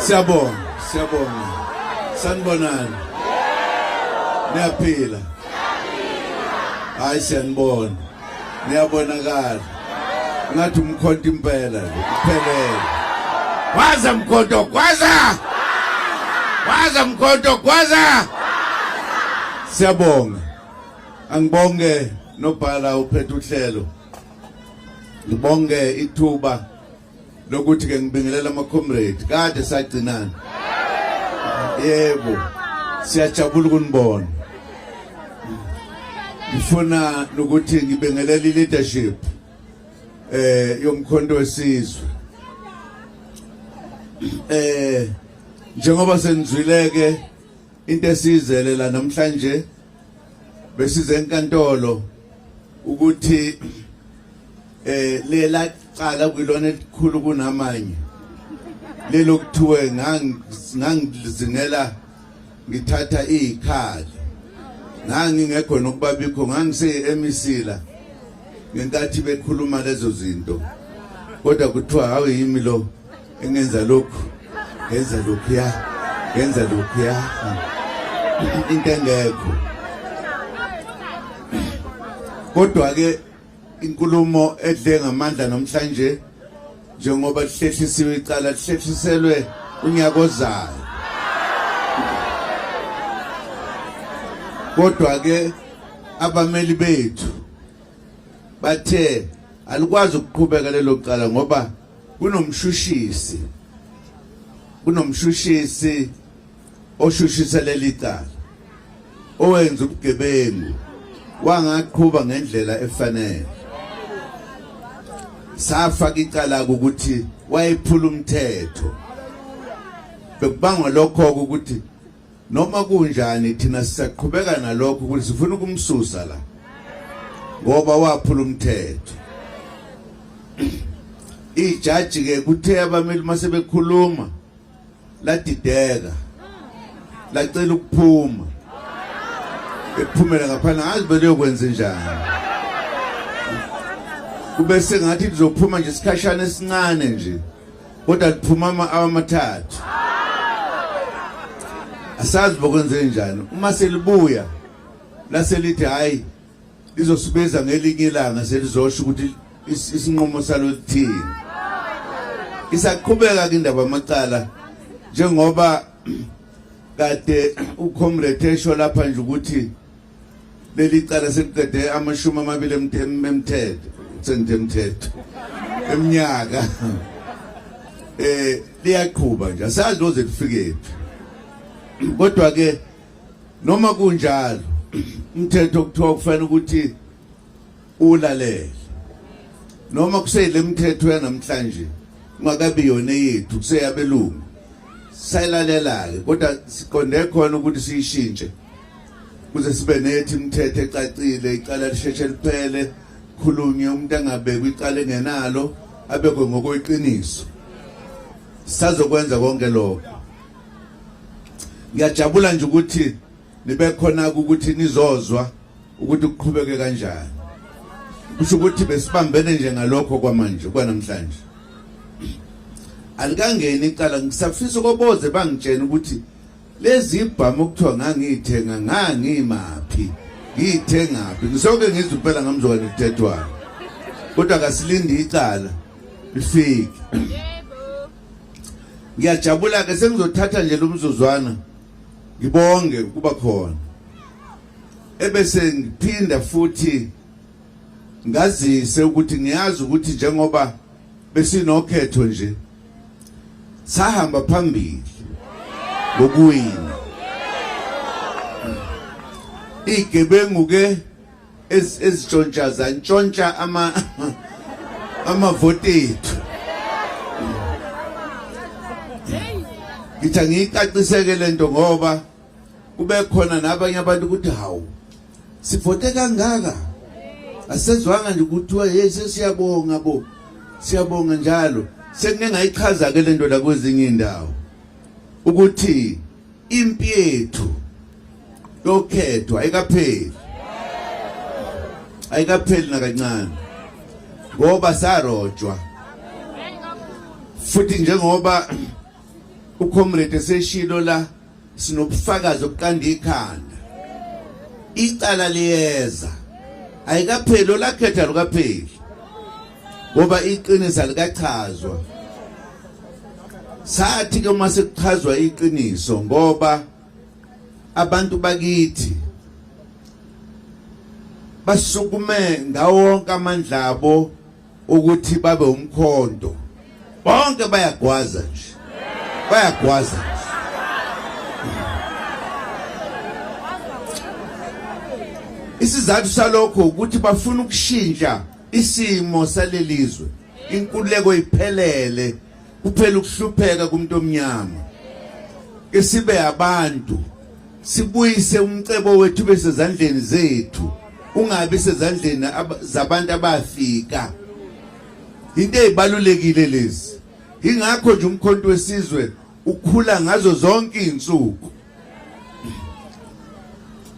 Siyabonga, siyabonga. Sanibonani. Niyaphila. Hayi siyanibona. niyabonakala ngathi umkhonto impela nje kuphelele waza mkhonto gwaza waza mkhonto gwaza siyabonga angibonge nobhala uphethe uhlelo ngibonge ithuba lokuthi ke ngibingelela ama comrade kade sagcinana yebo siyajabula ukunibona ngifuna ukuthi ngibingelele leadership eh yomkhonto wesizwe eh njengoba senizwileke into esizele la namhlanje besize enkantolo ukuthi eh lela cala kwilona elikhulu kunamanye lelokuthiwe ngangizingela ngithatha izikhali ngangingekho nokuba bikho ngangise emisila ngenkathi bekhuluma lezo zinto kodwa kuthiwa hawu yimi lo engenza lokhu ngenza lokhuya ngenza lokhuya into engekho kodwa-ke inkulumo edle ngamandla namhlanje njengoba lihlehlisiwe icala lihlehliselwe unyaka ozayo kodwa-ke abameli bethu bathe alikwazi ukuqhubeka lelo cala ngoba kunomshushisi kunomshushisi oshushisa leli cala owenza ubugebengu wangaqhuba ngendlela efanele safaka icala ukuthi wayephula umthetho bekubangwa lokho ukuthi Noma kunjani thina sisaqhubeka nalokho ukuthi sifuna ukumsusa la. Ngoba waphula umthetho. Ijaji ke kuthe abameli mase bekhuluma ladideka lacela ukuphuma ephumela ngaphandle ngazi beliyokwenza njani kube sengathi lizophuma nje isikhashana esincane nje kodwa kuphuma ama-awa amathathu asazi bokwenzeke njani uma selibuya laselithi hhayi lizosibeza ngelinye ilanga selizosho ukuthi isinqumo salo lithini isaqhubeka-ke indaba amacala njengoba kade ucomrade esho lapha nje ukuthi leli cala seliqede amashumi amabili emthetho sengithe mthetho eminyaka eh liyaqhuba nje asazi noze lifikephi kodwa ke noma kunjalo umthetho kuthiwa kufanele ukuthi ulalele noma kuseyile mthetho yanamhlanje ungakabi yona yethu kuseyabelungu sayilalelayo kodwa siqonde khona ukuthi siyishintshe kuze sibe nethi imithetho ecacile icala lisheshe liphele khulunye umuntu angabekwa icala engenalo abekwe ngokweqiniso sazokwenza konke lokho ngiyajabula nje ukuthi nibe khona ukuthi nizozwa ukuthi kuqhubeke kanjani kusho ukuthi besibambene nje ngalokho kwamanje kwanamhlanje alikangeni icala ngisafisa koboze bangitshena ukuthi lezi ibhamu okuthiwa ngangiyithenga ngangimaphi ngiyithengaphi ngisoke ngizwe impela ngamzokane kuthethwayo kodwa kasilindi icala lifike ngiyajabula-ke sengizothatha nje lo mzuzwana ngibonge ukuba khona ebese ngiphinda futhi ngazise ukuthi ngiyazi ukuthi njengoba besinokhetho nje sahamba phambili ngokuwina igebengu ke ezitshontsha zantshontsha ama amavoti ethu ngithi angiyicaciseke le nto ngoba kube khona nabanye abantu ukuthi hawu sivote kangaka asezwanga nje kuthiwa hey sesiyabonga bo siyabonga njalo sengike ngayichaza-ke le nto la kwezinye iy'ndawo ukuthi impi yethu yokhethwa ayikapheli ayikapheli nakancane ngoba sarojwa futhi njengoba ucomrade eseshilo la sinobufakazi obuqanda ikhanda icala liyeza ayikapheli olakhetha lukapheli ngoba iqiniso alikachazwa sathi ke uma sekuchazwa iqiniso ngoba abantu bakithi basukume ngawonke amandla abo ukuthi babe umkhonto bonke bayagwaza nje bayagwaza nje isizathu salokho ukuthi bafuna ukushintsha Isimo salelizwe inkululeko iphelele kuphela ukuhlupheka kumuntu omnyama. Isibe abantu sibuyise umcebo wethu bese zandleni zethu ungabi sezandleni zabantu abafika into ezibalulekile lezi ingakho nje umkhonto wesizwe ukhula ngazo zonke izinsuku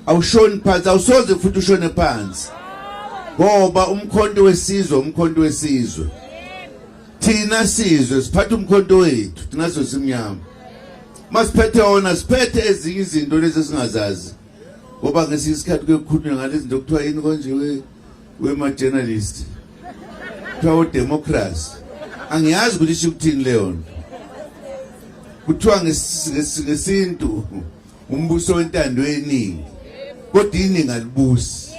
awushoni phansi awusoze futhi ushone phansi ngoba umkhonto wesizwe umkhonto wesizwe thina sizwe siphatha umkhonto wethu thina sosimnyama masiphethe wona siphethe ezinye izinto lezi singazazi ngoba ngesinye isikhathi kuyokhulunywa ngalezi zinto kuthiwa yini konje Wema journalist. Kuthiwa udemocracy. Angiyazi ukuthi isho ukuthini leyo nto. Kuthiwa ngesintu umbuso wentando yeningi. Kodwa iningi alibusi.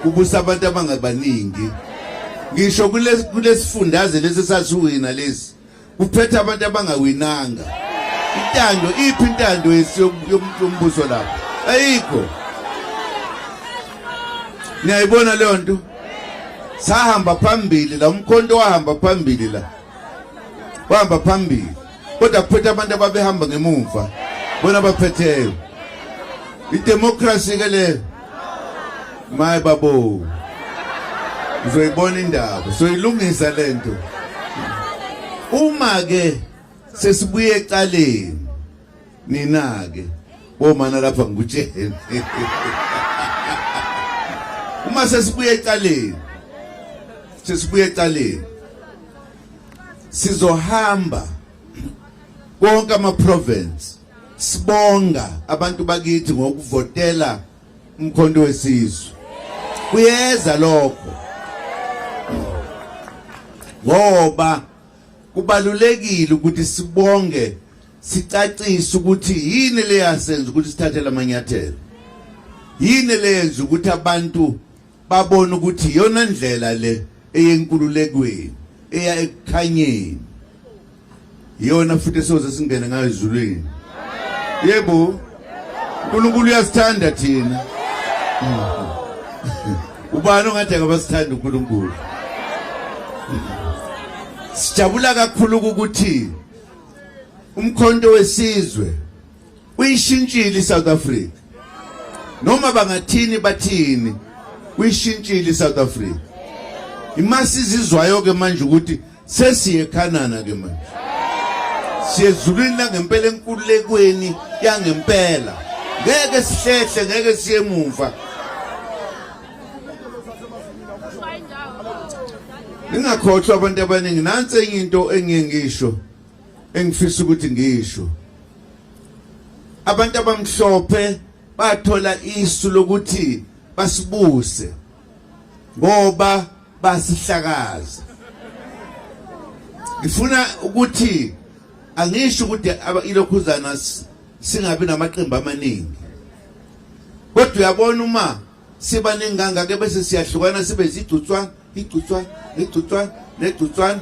Kubusa abantu abangabaningi. Ngisho kulesifundaze lesi sasiwina lesi. Uphethe abantu abangawinanga. Intando iphi intando yombuso lapho? Ayikho. Niyayibona leyo nto? Sahamba phambili la umkhonto wahamba phambili la. Wahamba phambili. Kodwa kuphethe abantu ababehamba ngemuva. Bona baphetheyo. Idemocracy ke leyo. maye babo uzoyibona indaba soyilungisa lento uma ke sesibuye ecaleni nina ke bomana lapha ngikutshele uma sesibuye ecaleni sesibuye ecaleni sizohamba konke ama province Sibonga abantu bakithi ngokuvotela umkhonto wesizwe. Kuyeza lokho. Ngoba kubalulekile ukuthi sibonge sicacise ukuthi yini leyasenza ukuthi sithathe lamanyathelo. Yini leyenza ukuthi abantu babona ukuthi iyona ndlela le eyenkululekweni eya ekukhanyeni iyona futhi esoze singene ngayo ezulwini yebo uNkulunkulu uyasithanda thina ubani ongathi akabasithanda uNkulunkulu sijabula kakhulu ukuthi umkhonto wesizwe uyishintshile iSouth Africa noma bangathini bathini uyishintshile iSouth Africa imasi izizwayo ke manje ukuthi sesiye eKhanana ke manje siyezulwini langempela enkululekweni yangempela ngeke sihlehle ngeke siye emuva ningakhohlwa abantu abaningi nansi enye into engiye ngisho engifisa ukuthi ngisho abantu abamhlophe bathola isu lokuthi basibuse ngoba basihlakaza ngifuna ukuthi angisho ukuthi ilokhuzana singabi namaqembu amaningi kodwa uyabona uma siba nenganga ke bese siyahlukana sibe zigcutswana igcutswana igcutswana negcutswana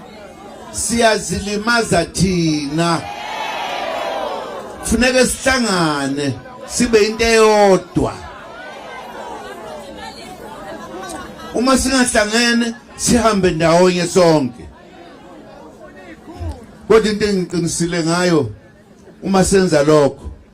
siyazilimaza thina funeke sihlangane sibe into eyodwa uma singahlangene sihambe ndawonye sonke kodwa into engiqinisile ngayo uma senza lokho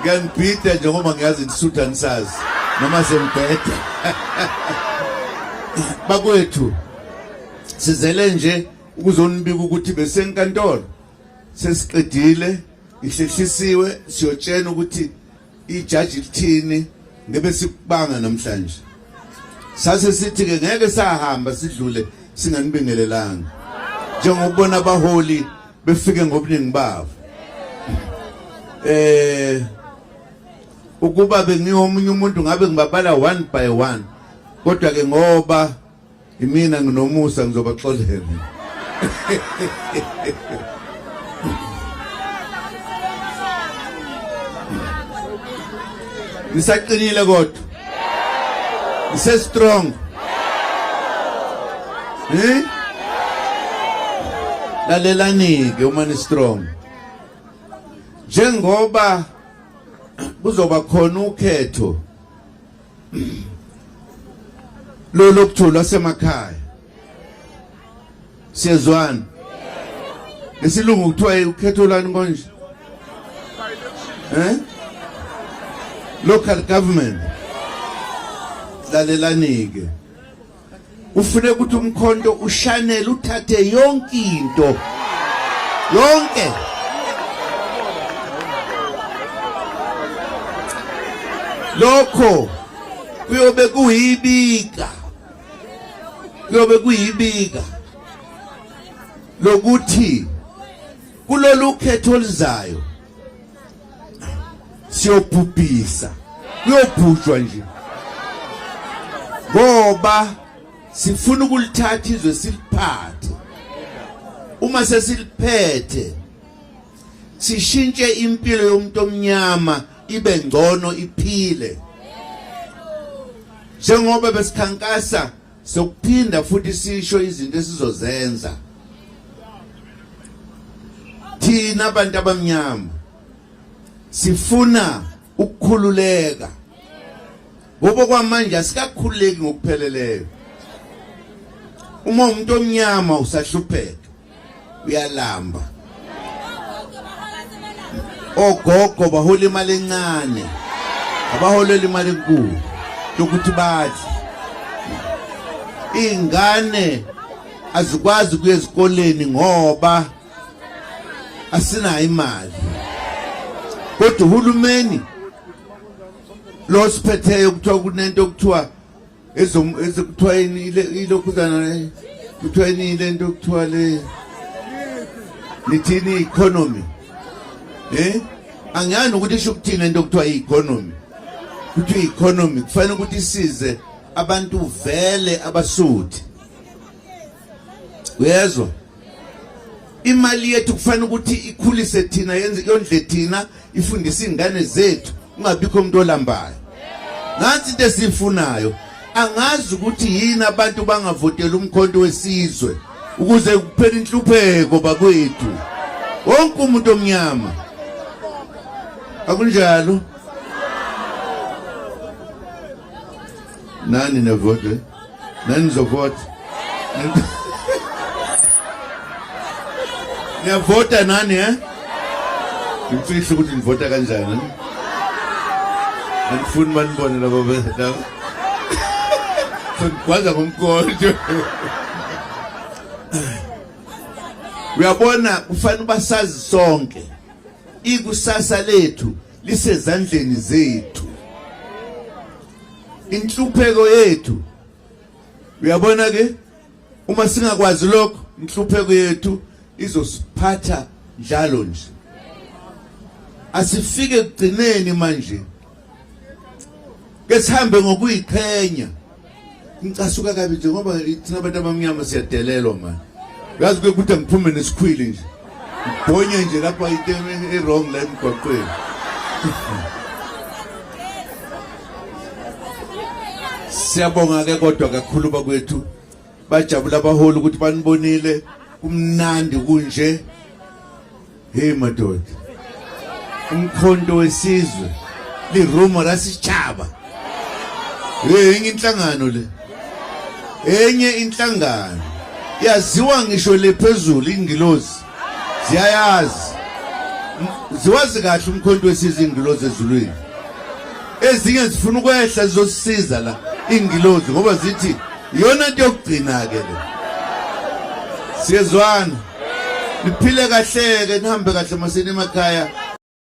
Ngiyangibhida nje ngoba ngiyazi ndisutha nisazi noma sengibheda. Bakwethu sizele nje ukuzonibika ukuthi besenkantolo sesiqedile ihlehlisiwe siyotshena ukuthi ijaji lithini ngebe sikubanga namhlanje sase sithi ke ngeke sahamba sidlule singanibingelelanga njengoba ubona abaholi befike ngobuningi babo eh ukuba bengiyomunye umuntu ngabe ngibabala one by one kodwa ke ngoba imina nginomusa ngizobaxolela nisaqinile kodwa ngise strong eh lalelani ke uma ni strong njengoba kuzoba khona ukhetho lolokuthu lwasemakhaya siyezwana ngesilungu kuthiwa ukhetho lani konje eh local government lalelanike ufune ukuthi umkhonto ushanele uthathe yonke into yonke lokho kuyobe kuyibika kuyobe kuyibika lokuthi kulolu khetho oluzayo siyobhubhisa kuyobhujwa nje ngoba sifuna ukulithatha izwe siliphathe uma sesiliphethe sishintshe impilo yomuntu omnyama ibe ngcono iphile njengoba besikhankasa sokuphinda futhi sisho izinto esizozenza thina abantu abamnyama sifuna ukukhululeka ngoba kwamanje asikakhululeki ngokupheleleyo uma umuntu omnyama usahlupheka uyalamba ogogo bahola imali encane abaholela imali enkulu yokuthi badle iy'ngane azikwazi kuya ezikoleni ngoba asinayo imali kodwa uhulumeni lo siphetheyo kuthiwa kunento okuthiwa kuthiwa yini ilokhuzana kuthiwa yini le nto kuthiwa le nithini i-economy eh angiyazi ukuthi isho ukuthini into kuthiwa i-economy kuthiwa i-economy kufanele ukuthi isize abantu vele abasuthi uyezwa imali yethu kufanele ukuthi ikhulise thina yenze yondle thina ifundise izingane zethu ungabikho umuntu olambayo ngathi into esifunayo angazi ukuthi yini abantu bangavotela umkhonto wesizwe ukuze kuphele inhlupheko bakwethu wonke umuntu omnyama akunjalo Nani ne vote? Nani zo vote? Ne vote nani eh? Ngifihla ukuthi nivota kanjani. Angifuni manibone labo labo. Ngikwaza ngomkonto. Uyabona kufanele ubasazi sonke. Ikusasa lethu lisezandleni zethu. inhlupheko yethu uyabona ke uma singakwazi lokho inhlupheko yethu izosiphatha njalo nje asifike kugcineni manje ke sihambe ngokuyiqhenya Ngicasuka kabi nje ngoba thina abantu abamnyama siyadelelwa manje. Uyazi kuye kuthi ngiphume nesikhwili nje. Ngibhonye nje lapha into e-wrong la emgwaqweni. Siyabonga ke kodwa kakhulu bakwethu. Bajabula abaholi ukuthi banibonile kumnandi kunje. Hey madoda. Umkhonto wesizwe li Roma lasitshaba. Hey enye inhlangano le. Enye inhlangano yaziwa ngisho le phezulu ingilozi. Ziyayazi. Ziwazi kahle umkhonto wesizwe ingilozi ezulwini. Ezinye zifuna ukwehla zizosiza la ingilozi ngoba zithi yona into yokugcina ke le. Siyezwana. niphile kahleke nihambe kahle masini emakhaya